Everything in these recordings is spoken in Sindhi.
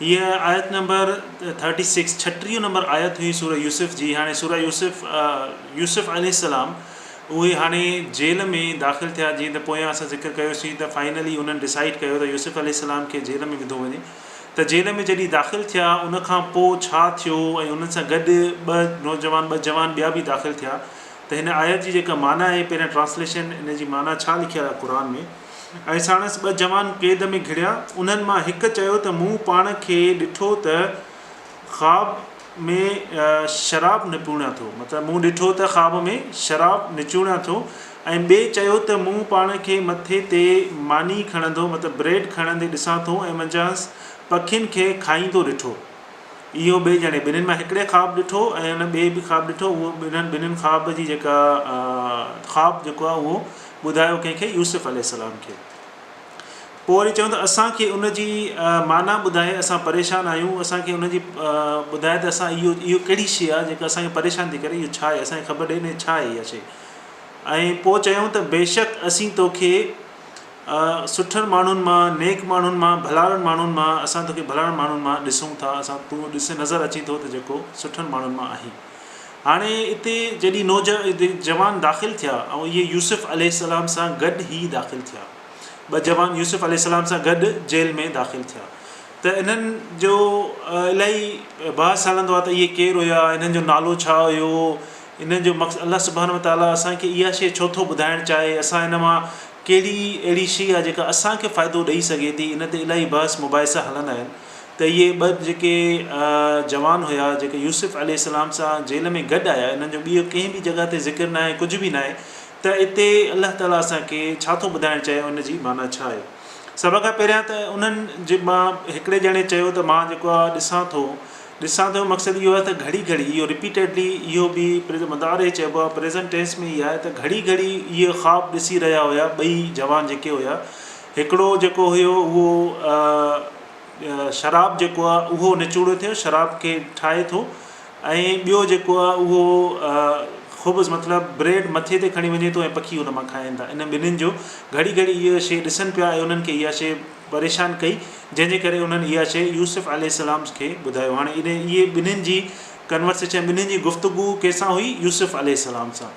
هيء آيت نمبر ٿرٽي سڪس ڇٽيهون نمبر آيت هئي سوره يوسف جي هاڻي سوره يوسف يوسف عليه السلام اهي هاڻي جيل ۾ داخل ٿيا جيئن ته پويان اسان ذڪر ڪيوسين ته فائنلي انهن ڊسائيڊ ڪيو ته يوسف عليه السلام کي جيل ۾ وڌو وڃي ته جيل ۾ جڏهن داخل ٿيا ان کان پوء ڇا ٿيو ۽ انهن سان گڏ ٻه نوجوان ٻه جوان ٻيا به داخل ٿيا ته هن آيت جي جيڪا معنيٰ آهي پهريان ٽرانسليشن ان جي معنيٰ ڇا لکيل آهي قرآن ۾ ۽ ساڻس ٻه جوان قيد ۾ گهڙيا. انهن مان هڪ چيو ته مون پاڻ کي ڏٺو ته خواب ۾ شراب نپوڻيان ٿو مطلب مون ڏٺو ته خواب ۾ شراب نچوڻيان ٿو ۽ ٻئي چيو ته مون پاڻ کي مٿي تي ماني کڻندو مطلب بريڊ کڻندي ڏسان ٿو ۽ منجهانئس پکين کي کائيندو ڏٺو. اهو ٻئي ڄڻي ٻنهين مان هڪڙي خواب ڏٺو ۽ ان ٻئي به خواب ڏٺو اهو انهن ٻنهين خواب جي جيڪا خواب جيڪو آهي اهو ٻڌايو ڪنهن کي؟ يوسف عليه السلام کي. پوء وري چيو ته اسان کي ان جي معنيٰ ٻڌائي اسان پريشان آهيون اسان کي ان جي ٻڌائي ته اسان اهو اهو ڪهڙي شيء آهي جيڪا اسان کي پريشان ٿي ڪري اهو ڇا آهي اسان کي خبر ڏي نه ڇا آهي اها شيء ۽ پوء چيائون ته بيشڪ اسين توکي سٺن ماڻهن مان نيڪ ماڻهن مان ڀلارن ماڻهن مان اسان توکي ڀلارن ماڻهن مان ڏسون ٿا اسان تون ڏس نظر اچين ٿو ته جيڪو سٺن ماڻهن مان آهين هاڻي اتي جڏهن نوجوان داخل ٿيا ۽ اهي يوسف عليه السلام سان گڏ هي داخل ٿيا، ٻه جوان يوسف عليه السلام سان گڏ جيل ۾ داخل ٿيا ته انهن جو الاهي بحث هلندو آهي ته اهي ڪير هيا، انهن جو نالو ڇا هيو، انهن جو مقصد الله سبحانه وتعاليٰ اسان کي اها شيء ڇو ٿو ٻڌائڻ چاهي، اسان ان مان ڪهڙي اهڙي شيء آهي جيڪا اسان کي فائدو ڏئي سگهي ٿي، ان تي الاهي بحث مباحثا هلندا آهن. ته اهي ٻه جيڪي جوان هيا جيڪي يوسف عليه السلام سان جيل ۾ گڏ آيا انهن جو ٻيء ڪنهن به جڳهه تي ذڪر ناهي ڪجهه به ناهي ته اتي الله تعالي اسان کي ڇا ٿو ٻڌائڻ چاهي ۽ ان جي معنيٰ ڇا آهي سڀ کان پهريان ته انهن جي مان هڪڙي ڄڻي چيو ته مان جيڪو آهي ڏسان ٿو ڏسان ٿو جو مقصد اهو آهي ته گهڙي گهڙي اهو رپيٽيڊلي اهو به پريزنٽ مضارع چئبو آهي پريزنٽ ٽينس ۾ ئي آهي ته گهڙي گهڙي اهي خواب ڏسي رهيا هيا ٻئي جوان جيڪي هيا هڪڙو جيڪو هيو اهو شراب جيڪو آهي اهو نچوڙيو ٿيو شراب کي ٺاهي ٿو ۽ ٻيو جيڪو آهي اهو خبز مطلب بريڊ مٿي تي کڻي وڃي ٿو پکي ان مان کائن ٿا ان ٻنهين جو گهڙي گهڙي اهو شيء ڏسن پيا ۽ انهن کي اها شيء پريشان ڪئي جنهن جي ڪري انهن اها شيء يوسف عليه السلام کي ٻڌايو هاڻي اهي ٻنهين جي ڪنورسيشن ٻنهين جي گفتگو ڪنهن سان هئي يوسف عليه السلام سان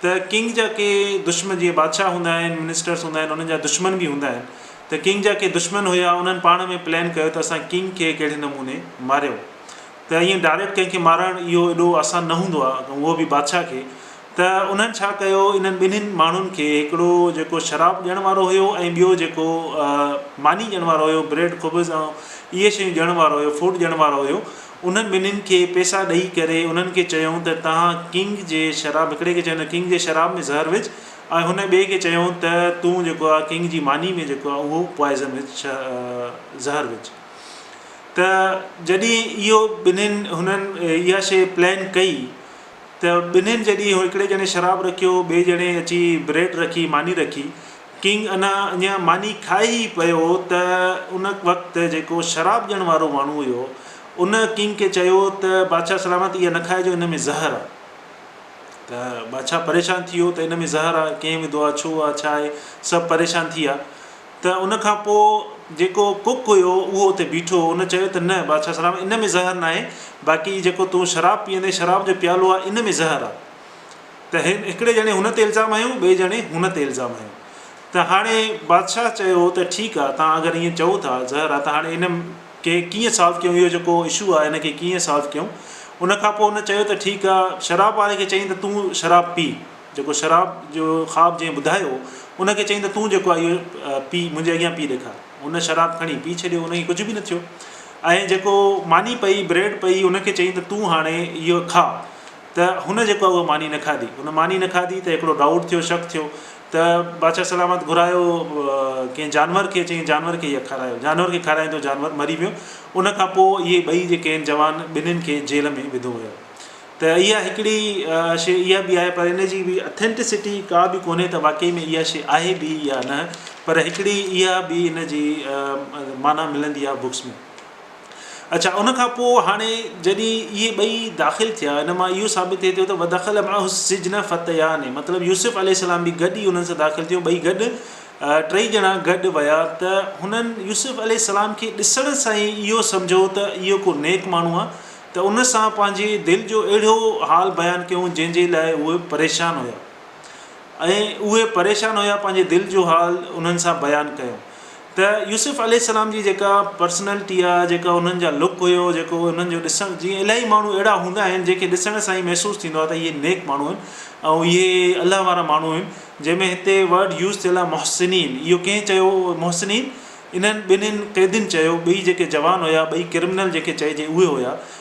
ته ڪنگ جا ڪي دشمن جيئن بادشاهه هوندا آهن منسٽرس هوندا آهن انهن جا دشمن به هوندا آهن ته ڪنگ جا ڪي دشمن هيا انهن پاڻ ۾ پلان ڪيو ته اسان ڪنگ کي ڪهڙي نموني ماريون ته ائين ڊائريڪٽ ڪنهن کي مارڻ اهو ايڏو آسان نه هوندو آهي اهو به بادشاهه کي ته انهن ڇا ڪيو انهن ٻنهين ماڻهن کي هڪڙو جيڪو شراب ڏيڻ وارو هيو ۽ ٻيو جيڪو ماني ڏيڻ وارو هيو بريڊ خبز ۽ اهي شيون ڏيڻ وارو هيو فوڊ ڏيڻ وارو هيو انهن ٻنهين کي پئسا ڏئي ڪري انهن کي چيائون ته توهان ڪنگ جي شراب هڪڙي کي چيائون ته ڪنگ جي شراب ۾ زهر وجهه ۽ هن ٻئي کي چيائون ته تون جيڪو آهي ڪنگ جي ماني ۾ جيڪو آهي اهو پوائزن وجهه ڇا زهر وجهه ته جڏهن اهو ٻنهين هنن اها شيء پلان ڪئي ته ٻنهين جڏهن هڪڙي ڄڻي شراب رکيو ٻئي ڄڻي اچي بريڊ رکي ماني رکي ڪنگ انا اڃا ماني کائي ئي پيو هو ته ان وقت جيڪو شراب ڏيڻ وارو ماڻهو هيو ان ڪنگ کي چيو ته بادشاهه سلامت اها نه کائجو ان ۾ زهر آهي ته بادشاهه پريشان ٿي ويو ته ان ۾ زهر آهي ڪنهن وڌو آهي ڇو آهي ڇا آهي سڀ پريشان ٿي ويا ته ان کان پوء جيڪو ڪڪ هيو اهو اتي بيٺو هو ان چيو ته نه بادشاهه سلامت ان ۾ زهر ناهي باقي جيڪو تون شراب پيئندين شراب جو پيالو آهي ان ۾ زهر آهي ته هن هڪڙي ڄڻي هن تي الزام هنيو، ٻئي ڄڻي هن تي الزام هنيو ته هاڻي بادشاهه چيو ته ٺيڪ آ توهان اگر ائين چئو ٿا زهر آ ته هاڻي ان کي ڪيئن سالو ڪيون اهو جيڪو اشو آ ان کي ڪيئن سالو ڪيون ان کان پوء هن چيو ته ٺيڪ آ شراب واري کي چئين ته تون شراب پي جيڪو شراب جو خواب جنهن ٻڌايو ان کي چئين ته تون جيڪو آ اهو پي منهنجي اڳيان پي ڏيکار هن شراب کڻي پي ڇڏيو ان کي ڪجهه به نه ٿيو ۽ جيڪو ماني پئي بريڊ پئي ان کي چئين ته تون هاڻي اهو کاء ته هن جيڪو آهي اها ماني نه کاڌي، هن ماني نه کاڌي ته هڪڙو ڊائوٽ ٿيو، شڪ ٿيو ته بادشاهه سلامت گهرايو ڪنهن جانور کي، چيائين جانور کي اها کارايو، جانور کي کارايندو جانور مري ويو، ان کان پوء اهي ٻئي جيڪي آهن جوان ٻنهين کي جيل ۾ وڌو ويو ته اها هڪڙي شيء اها به آهي پر ان جي به اٿينٽسٽي ڪا به ڪونهي ته واقعي ۾ اها شيء آهي به يا نه پر هڪڙي اها به ان جي معنيٰ ملندي آهي بڪس ۾. اڇا ان کان پوء هاڻي جڏهن اهي ٻئي داخل ٿيا ان مان اهو ثابت ٿئي ٿو ته ودخل معه السجن فتيان مطلب يوسف عليه السلام به گڏ ئي انهن سان داخل ٿيو ٻئي گڏ ٽئي ڄڻا گڏ ويا ته هنن يوسف عليه السلام کي ڏسڻ سان ئي اهو سمجهو ته اهو ڪو نيڪ ماڻهو آهي ته ان سان پنهنجي دل جو اهڙو حال بيان ڪيون جنهن جي لاء اهي پريشان هيا ۽ اهي پريشان هيا پنهنجي دل جو حال انهن سان بيان ڪيون ته يوسف عليه السلام جي جيڪا پرسنلٽي آ جيڪا انهن جا لڪ هيو جيڪو انهن جو ڏسڻ جيئن الاهي ماڻهو اهڙا هوندا آهن جنهن کي ڏسڻ سان ئي محسوس ٿيندو آ ته اهي نيڪ ماڻهو آهن ۽ اهي الله وارا ماڻهو آهن جنهن ۾ هتي ورڊ يوز ٿيل آ محسنين اهو ڪنهن چيو محسنين انهن ٻنهين قيدين چيو ٻئي جيڪي جوان هيا ٻئي ڪرمنل جنهن کي چئجي اهي هيا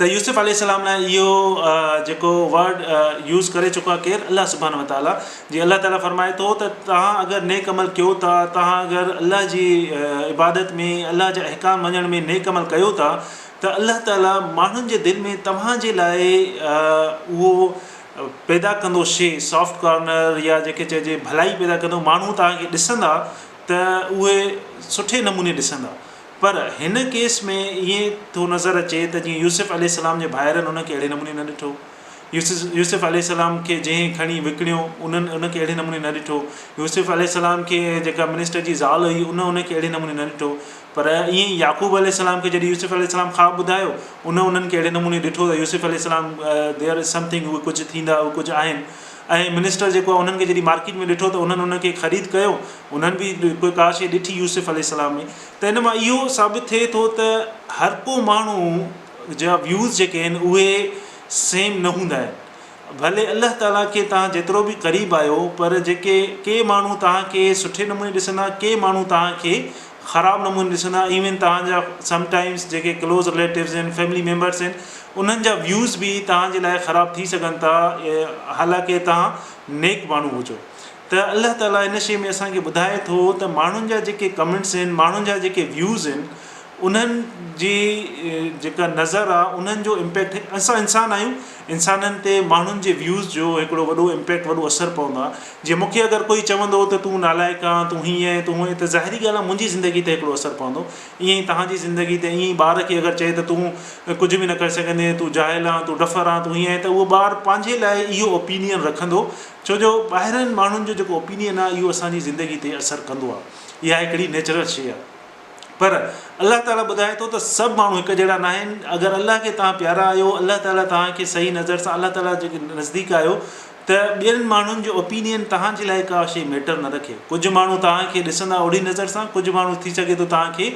ته يوسف عليه السلام لاء اهو جيڪو ورڊ يوز ڪري چڪو آهي ڪير الله سبحانه وتعاليٰ جي الله تعاليٰ فرمائي ٿو ته توهان اگر نيڪ عمل ڪيو ٿا توهان اگر الله جي عبادت ۾ الله جا احڪام مڃڻ ۾ نيڪ عمل ڪيو ٿا ته الله تعاليٰ ماڻهن جي دل ۾ توهان جي لاء اهو پيدا ڪندو شيء سافٽ ڪارنر يا جيڪي چئجي ڀلائي پيدا ڪندو ماڻهو توهان کي ڏسندا ته اهي سٺي نموني ڏسندا پر هن ڪيس ۾ ائين ٿو نظر اچي ته جيئن يوسف عليه السلام جي ڀائرن ان کي اهڙي نموني نه ڏٺو. يوسف عليه السلام کي جنهن کڻي وڪڻيو انهن ان کي اهڙي نموني نه ڏٺو. يوسف عليه السلام کي جيڪا منسٽر جي زال هئي ان ان کي اهڙي نموني نه ڏٺو. پر ائين ئي يعقوب عليه السلام کي جڏهن يوسف عليه السلام خواب ٻڌايو ان انهن کي اهڙي نموني ڏٺو ته يوسف عليه السلام There is something هو ڪجهه ٿيندا هو ڪجهه آهن. اهي منسٽر جيڪو انهن کي جڏهن مارڪيٽ ۾ ڏٺو ته انهن ان کي خريد ڪيو انهن به ڪوئي ڪا شيء ڏٺي يوسف عليه السلام ۾ ته ان مان اهو ثابت ٿئي ٿو ته هر ڪو ماڻهو جا ويوز جيڪي آهن اهي سيم نه هوندا آهن ڀلي الله تعالي کي توهان جيترو به قريب آهيو پر جيڪي ڪي ماڻهو توهان کي سٺي نموني ڏسندا ڪي ماڻهو توهان کي خراب نموني ڏسندا ايون توهان جا سم ٽائمز جيڪي ڪلوز رليٽوز آهن فيملي ميمبرز آهن انهن جا ويوز به توهان جي لاء خراب ٿي سگهن ٿا حالانڪه توهان نيڪ ماڻهو هجو ته الله تعالي ان شي ۾ اسان کي ٻڌائي ٿو ته ماڻهن جا جيڪي ڪمينٽس آهن ماڻهن جا جيڪي ويوز آهن انهن جي جيڪا نظر آهي انهن جو امپيڪٽ اسان انسان آهيون انسانن تي ماڻهن جي ويوز جو هڪڙو وڏو امپيڪٽ وڏو اثر پوندو آهي جي مونکي اگر ڪوئي چوندو ته تون نالائق آهن تون هيئن آهين تون هونئن ته ظاهري ڳالهه آهي منهنجي زندگي تي هڪڙو اثر پوندو ائين ئي توهان جي زندگي تي ائين ئي ٻار کي اگر چئي ته تون ڪجهه به نه ڪري سگهندين تون جاهل آهن تون ڊڦر آهن تون هيئن آهين ته اهو ٻار پنهنجي لاء اهو اوپينين رکندو ڇو جو ٻاهرين ماڻهن جو جيڪو اوپينين آهي اهو اسان جي زندگي تي اثر ڪندو آهي اها هڪڙي نيچرل شيء آهي پر الله تعالي ٻڌائي ٿو ته سڀ ماڻهو هڪ جهڙا ناهن اگر الله کي توهان پيارا آهيو الله تعالي توهان کي صحيح نظر سان الله تعالي جي نزديڪ آهيو ته ٻين ماڻهن جو اوپينين توهان جي لاء ڪا شيء ميٽر نه رکي ڪجهه ماڻهو توهان کي ڏسندا اهڙي نظر سان ڪجهه ماڻهو ٿي سگهي ٿو توهان کي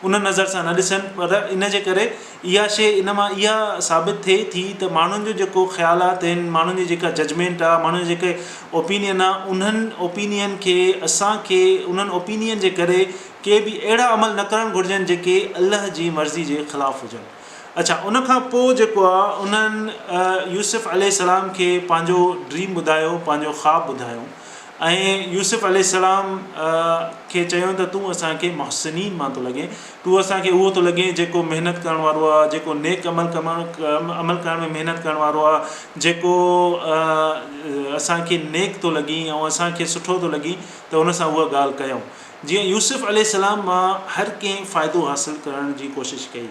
ان نظر سان نه ڏسن پر ان جي ڪري اها شيء ان مان اها ثابت ٿئي ٿي ته ماڻهن جو جيڪو خيالات آهن ماڻهن جي جيڪا ججمينٽ آهي ماڻهن جي جيڪي اوپينين آهي انهن اوپينين کي اسان کي انهن اوپينين جي ڪري ڪي به اهڙا عمل نه ڪرڻ گهرجن جيڪي الله جي مرضي جي خلاف هجن. اڇا ان کان پوء جيڪو آ انهن يوسف عليه السلام کي پنهنجو ڊريم ٻڌايو پنهنجو خواب ٻڌايو ۽ يوسف عليه السلام کي چيون ته تون اسان کي محسنين مان ٿو لڳين تون اسان کي اهو ٿو لڳين جيڪو محنت ڪرڻ وارو آ جيڪو نيڪ عمل عمل ڪرڻ ۾ محنت ڪرڻ وارو آ جيڪو اسان کي نيڪ ٿو لڳين ۽ اسان کي سٺو ٿو لڳين ته ان سان اها ڳالهه ڪيون جيئن يوسف عليه السلام مان هر ڪنهن فائدو حاصل ڪرڻ جي ڪوشش ڪئي.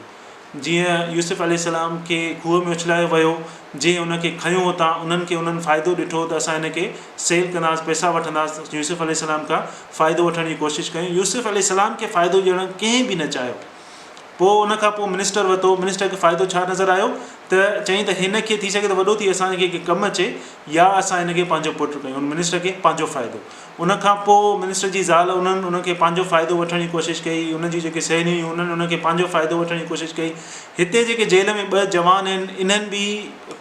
جيئن يوسف عليه السلام کي کوهه ۾ اڇلايو ويو، جنهن ان کي کنيو اتان انهن کي انهن فائدو ڏٺو ته اسان هن کي سيل ڪنداس پئسا وٺنداس يوسف عليه السلام کان فائدو وٺڻ جي ڪوشش ڪيون يوسف عليه السلام کي فائدو ڏيڻ ڪنهن به نه چاهيو پوء ان کان پوء منسٽر وتو منسٽر کي فائدو ڇا نظر آيو ته چيائين ته هن کي ٿي سگهي ته وڏو ٿي اسان کي ڪم اچي يا اسان هن کي پنهنجو پٽ ڪيون هن منسٽر کي پنهنجو فائدو ان کان پوء منسٽر جي زال انهن ان کي پنهنجو فائدو وٺڻ جي ڪوشش ڪئي. ان جون جيڪي سهيليون هيون انهن ان کي پنهنجو فائدو وٺڻ جي ڪوشش ڪئي. هتي جيڪي جيل ۾ ٻه جوان آهن انهن به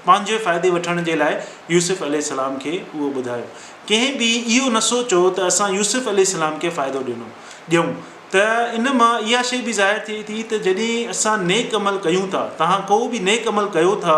پنهنجي فائدي وٺڻ جي لاء يوسف عليه السلام کي اهو ٻڌايو. ڪنهن به اهو نه سوچيو ته اسان يوسف عليه السلام کي فائدو ڏنو ڏيون ته ان مان اها شيء به ظاهر ٿئي ٿي ته جڏهن اسان نيڪ عمل ڪيون ٿا، توهان ڪو به نيڪ عمل ڪيو ٿا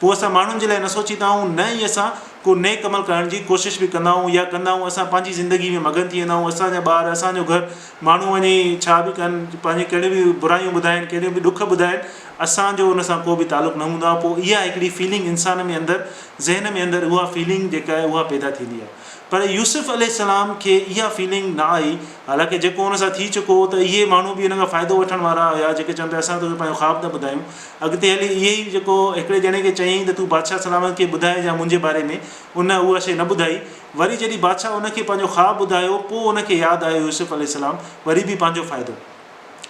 پوء اسان ماڻهن جي لاء نه سوچيندا آهيون نه ئي اسان ڪو نيڪ عمل ڪرڻ جي ڪوشش به ڪندا آهيون يا ڪندا آهيون اسان پنهنجي زندگي ۾ مگن ٿي ويندا آهيون اسان جا ٻار اسان جو گهر ماڻهو وڃي ڇا به ڪن پنهنجي ڪهڙي به برايون ٻڌائن ڪهڙيون به ڏک ٻڌائن اسان جو ان سان ڪو به تعلق نه هوندو آهي پوء اها هڪڙي فيلنگ انسان ۾ اندر ذهن ۾ اندر اها فيلنگ جيڪا آهي اها پيدا ٿيندي آهي پر يوسف عليه السلام کي اها فيلنگ نه آئي حالانڪه جيڪو ان سان ٿي چڪو هو ته اهي ماڻهو به ان کان فائدو وٺڻ وارا هيا جيڪي چون پيا اسان توکي پنهنجو خواب ٿا ٻڌايون اڳتي هلي اهي ئي جيڪو هڪڙي ڄڻي کي چيائين ته تون بادشاهه سلامت کي ٻڌاء جا منهنجي باري ۾ ان اها شيء نه ٻڌائي. وري جڏهن بادشاهه ان کي پنهنجو خواب ٻڌايو پوء ان کي ياد آيو يوسف عليه السلام وري به پنهنجو فائدو.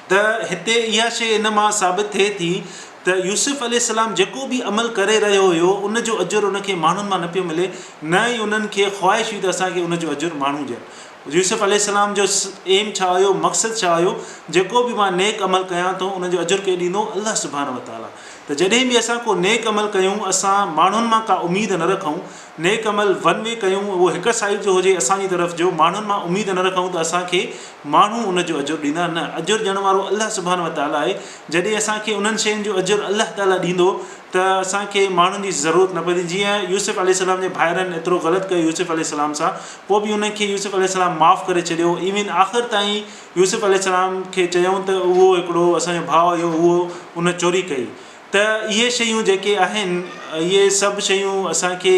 ته هتي اها شيء ان مان ثابت ٿئي ٿي ته يوسف عليه السلام جيڪو به عمل ڪري رهيو هيو ان جو اجر ان کي ماڻهن مان نه پيو ملي نه ئي انهن کي خواهش هئي ته اسان کي ان جو اجر ماڻهو ڏين يوسف عليه السلام جو ايم ڇا هيو مقصد ڇا هيو جيڪو به مان نيڪ عمل ڪيان ٿو ان جو اجر ڪير ڏيندو الله سبحانه وتعالٰي ته جڏهن به اسان ڪو نيڪ عمل ڪيون اسان ماڻهن مان ڪا اميد نه رکون نيڪ عمل ون وي ڪيون اهو هڪ سائيڊ جو هجي اسان جي طرف جو ماڻهن مان اميد نه رکون ته اسان کي ماڻهو ان جو اجر ڏيندا نه اجر ڏيڻ وارو الله سبحانه وتعالٰي آهي جڏهن اسان کي انهن شين جو اجر الله تعالٰي ڏيندو ته اسان کي ماڻهن جي ضرورت نه پوندي جيئن يوسف عليه السلام جي ڀائرن ايترو غلط ڪيو يوسف عليه السلام سان پوء به انهن کي يوسف عليه السلام معاف ڪري ڇڏيو ايون آخر تائين يوسف عليه السلام کي چيائون ته اهو هڪڙو اسان جو ڀاء هيو اهو ان چوري ڪئي ته اهي شيون جيڪي آهن اهي سڀ شيون اسان کي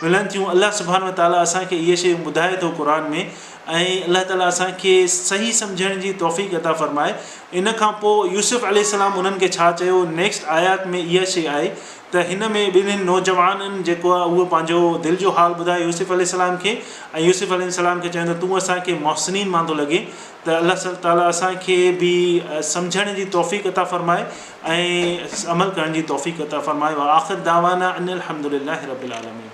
ملن ٿيون الله سبحانه وتعاليٰ اسان کي اهي شيون ٻڌائي ٿو قرآن ۾ ۽ الله تعاليٰ اسان کي صحيح سمجهڻ جي توفيق عطا فرمائي ان کان پوء يوسف عليه السلام انهن کي ڇا چيو نيڪسٽ آيات ۾ اها شيء آهي ته هن ۾ ٻنهن نوجوانن جيڪو آهي اهو پنهنجو دل جو حال ٻڌايو يوسف عليه السلام کي ۽ يوسف عليه السلام کي چيو ته تون اسان کي محسنين مان ٿو لڳين ته الله سل تعاليٰ اسان کي به سمجهڻ جي توفيق عطا فرمائي ۽ عمل ڪرڻ جي توفيق عطا فرمائي واخر دعوانا ان الحمد لله رب العالمين.